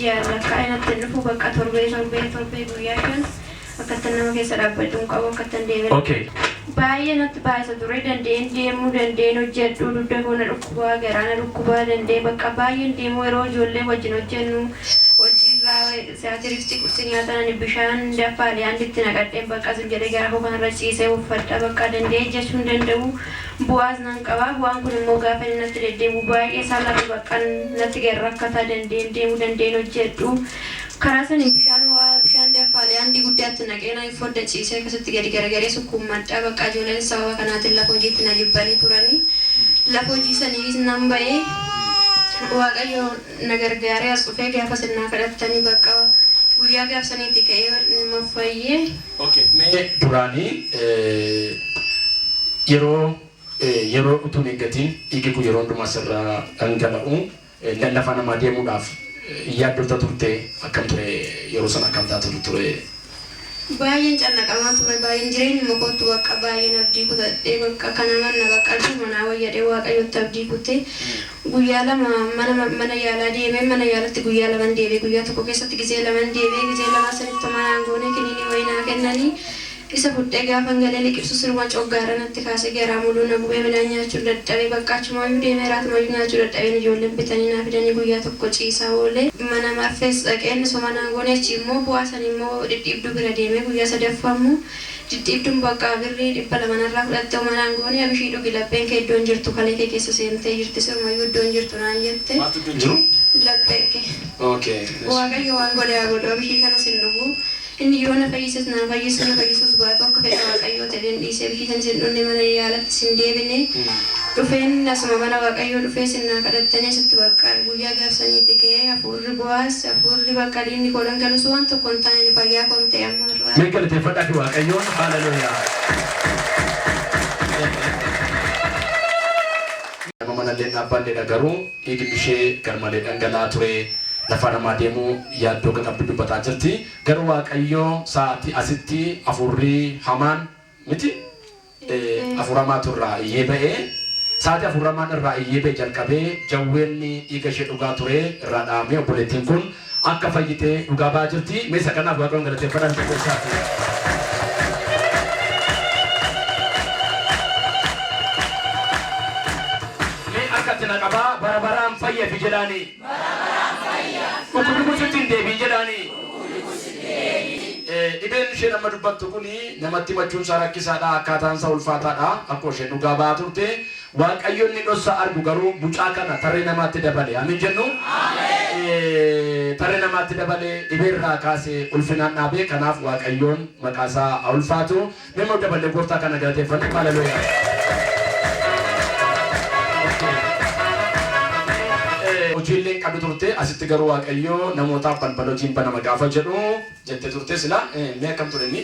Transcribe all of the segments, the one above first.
ji'aan lakkaa'ee natti hin dhufu bakka torbee torbee torbee guyyaa shan akkattan nama keessa dhaabbadhu hin qabu akkattan deeme Okay. baay'ee natti baay'isa ture danda'een deemuu danda'een hojjedhu dugda koo na dhukkubaa garaa na dhukkubaa danda'ee bakka baay'een deemuu yeroo ijoollee wajjin hojjennu hojiirraa siyaatiritti qursi nyaatan ani bishaan daffaadhe anditti naqadheen bakka sun jedhee gara koo kanarra ciisee uffadha bakka danda'ee jechuun danda'u Bo'aaz nan qaba. Bu'aan kun immoo gaafa inni natti deddeebi'u baay'ee isaa lafa baqqan natti ga'e rakkataa danda'een deemuu danda'een hojjedhu. Karaa saniin bishaan ho'aa bishaan danfaalee haandii guddaatti naqee nan fodda ciisee akkasitti gadi garagaree sukkuummadha. Baqqa ijooleenis sababa kanaatiin lafa hojiitti na jibbanii turanii. Lafa hojii saniis nan ba'e. Waaqayyo na gargaaree as dhufee gaafa isin naa kadhattani baqqa guyyaa gaaf saniiti ka'ee numa fayye. Ok mee duraani yeroo yeroo utuun eeggatiin dhiigi kun yeroo hundumaa sirraa dhangala'u lallafaa namaa deemuudhaaf hin yaaddofta turtee akkam ture yeroo sana akkam taatu turee. Baay'een cannaqamaa ture baay'een jireenyuma kootti baqqa baay'een abdii kutadhe baqqa kana manna baqqa achuma naa wayya jedhee waaqayyotti abdii kutte guyyaa lama mana mana yaalaa deemeen mana yaalatti guyyaa laman deebi'e guyyaa tokko keessatti gizee laman deebi'e gizee lamaa sanitti homaa naan goone kiniinii wayii naa kennanii isa fudhee gaafan galee liqimsu siruma coggaara natti kaasee garaa muluu na gubee midhaan nyaachun dadhabe baqqa achumayyuu deemee iraatumayyuu nyaachuu dadhabeen ijoolleen bitanii naa fidanii guyyaa tokko ciisaa oole mana marfees dhaqeen homaa naan goone achiimmoo bu'aa Ani immoo dhidhiibduu bira deemee guyyaa sadaffaa immoo dhidhiibduun bakka birrii 200 narraa fudhatte homa naan goone Abishii dhugi lapheen kee iddoon jirtu kalee kee keessa seentee jirti sirumayyuu iddoon jirtu naan jette Maaltu iddoon jiru? lapheen kee Ok eshi. Waaqayyo waan godhe haa godhu Abishii kanas hin dhugu inni yoo na fayyises naa fayyisu na fayyisuus baatu akka fedha Waaqayyoo ta'een dhiise Abishii sanis hin dhunne mana yaalattis hin deebine dhufeen asuma mana Waaqayyoo dhufee sin naa kadhattanii asitti baqqaa guyyaa gaaf saniiti ka'ee hafuurri Hafuurri Bo'aaz, Hafuurri bakka diinni koo dhangala'us waan tokko hin taane fayyaa koon ta'e amma har'aa. Mee galateeffadhaafi Waaqayyoon haaleluyyaa. Nama manallee hin dhaabbaanneedha garuu dhiigni ishee garmalee dhangala'aa ture lafaa namaa deemuu yaaddoo akka qabdu dubbataa jirti garuu Waaqayyoo sa'aatii asitti hafuurri hamaan miti afuramaatu irraa iyyee ba'e sa'aati afuramaan irraa iyyee ba'e jalqabee jawween dhiiga ishee dhugaa ture irraa dhaamee obboleettiin kun akka fayyite dhugaa ba'aa jirti mee isa kanaaf waaqayyoon galateeffadhaan tokko isaati. Mee akka itti na qabaa bara baraan fayyafi jedhaanii. Bara baraan fayya. Dhukkubni kun sitti hin deebiin jedhaani. Dhukkubni kun sitti deebiin. Dhibeen isheen amma dubbattu kun namatti himachuun isaa rakkisaa dha, akkaataan isaa ulfaataa dha. Akkuma isheen dhugaa ba'aa turte, Waaqayyo inni dhossaa argu garuu mucaa kana tarree namaatti dabale. Amiin jennu? Tarree namaatti dabale, dhibee irraa kaase, ulfinaan dhaabe. Kanaaf Waaqayyoon maqaa isaa haa ulfaatu. Mee moo daballee gooftaa kana galateeffanna hallelujah. Hojiillee hin qabdu turte asitti garuu waaqayyoo namootaaf balbala hojiin banama gaafa jedhu jette turte sila mee akkam ture inni?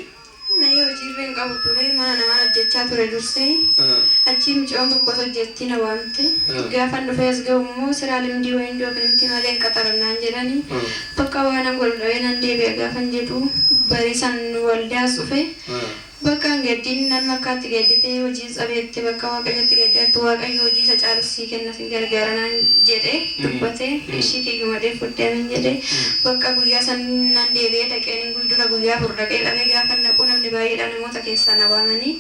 Mee hojiirra hin qabu ture mana namaan hojjechaa ture dursee achii mucaan tokkos hojjettii na waamte gaafan dhufee as ga'u immoo siraa limdii wayindoo finimti malee hin qaxarannaan jedhani Bakka waanan wal dhawee nan deebi'a gaafan jedhu barisan waldaas dhufe bakka hin gaddin namni akka ati gaddite hojiis dhabeette bakka waaqayyotti gaddi atti waaqayyo hojii isa caalus sii kenna sin gargaara naan jedhe dubbate ishii kiyyuu madhee fudde amen jedhe bakka guyyaa san nan deebi'ee dhaqeen hin guy dura guyyaa afur dhaqee qabee gaafan dhaquu namni baay'eedha namoota keessaa na waamanii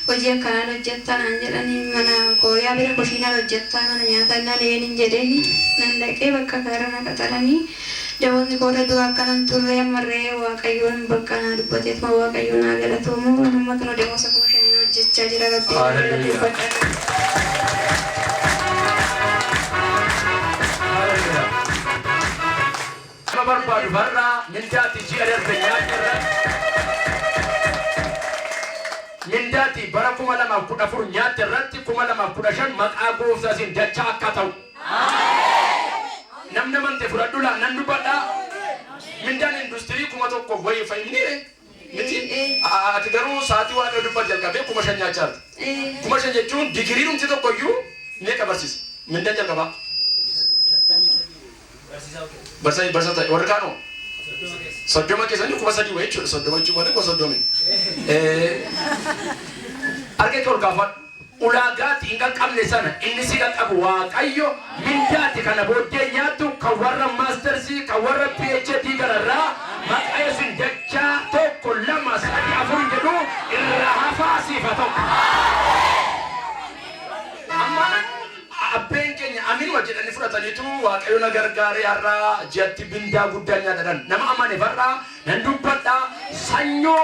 hojii akkanaa lojjattaa naan jedhani mana kooyaa bira kushiinaa lojjattaa mana nyaataa innaa na yeenin jedheen nan dhaqee bakka isaa irra na qaxarani damozni koo irra dura akkanan turre amma irree waaqayyoon bakka naa dubbateetuma waaqayyoon haa galatoomu an amma kino damoza kuma shaniin hojjachaa jira rabbii naa galateeffadha Hallelujah. Nama barbaadu har'a mindaati ji'a darbe nyaanne irratti mindaati bara 2014 nyaatte irratti 2015 maqaa gooftaa isin dachaa akka ta'u. Namni amante fudhadhu laa nan dubbadha. Mindaan industirii kuma tokkoof wayii fa'i miniire. Miti ati garuu sa'aatii waaqayyo dubbate jalqabee kuma shan nyaachaa jirta. Kuma shan jechuun digiriidhumti tokko iyyuu meeqa barsiisa? Mindaan jalqabaa? Barsa barsa ta'e warri kaanoo? Soddoma keessanii kuma sadii wayii jechuudha. Soddoma jechuun malee kuma soddomi. Harka kee ol kaafadhu. ulaagaa ati hin qaqqabne sana inni si qaqqabu Waaqayyo mindaa ati kana booddee nyaattu kan warra maastersii kan warra PhD gararraa maqaa Yesuusiin dachaa tokko lama sadii afur hin jedhu irraa hafaa siif haa ta'u. Amma a- abbeen keenya aminuma jedhanii fudhataniitu waaqayyo na gargaaree har'a ji'atti mindaa guddaan nyaatadhan nama amaneef har'a nan dubbadha sanyoo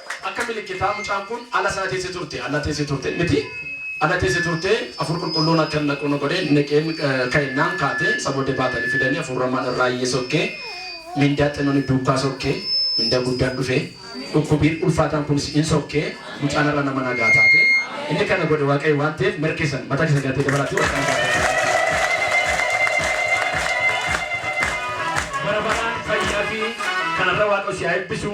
Akka milikkitaa mucaan kun ala sana teesse turte, ala teesse turte, miti, ala teesse turte, Hafuurri Qulqulluun akkan naqu na godhe, naqeen ka'ennaan kaate, isa booddee baatanii fidanii Hafuura Hamaan irraayyee sokke, mindaa xinnoon duukaa sokke, mindaa guddaan dhufe, dhukkubiin ulfaataan kunis in sokke, mucaan har'a nama nagaa taate, inni kana godhe Waaqayyo waan ta'eef mera keessan mataa keessan galatee dabalaatii warra kana baatanii. Bara baraan fayyaa fi kanarra Waaqayyo si haa eebbisu.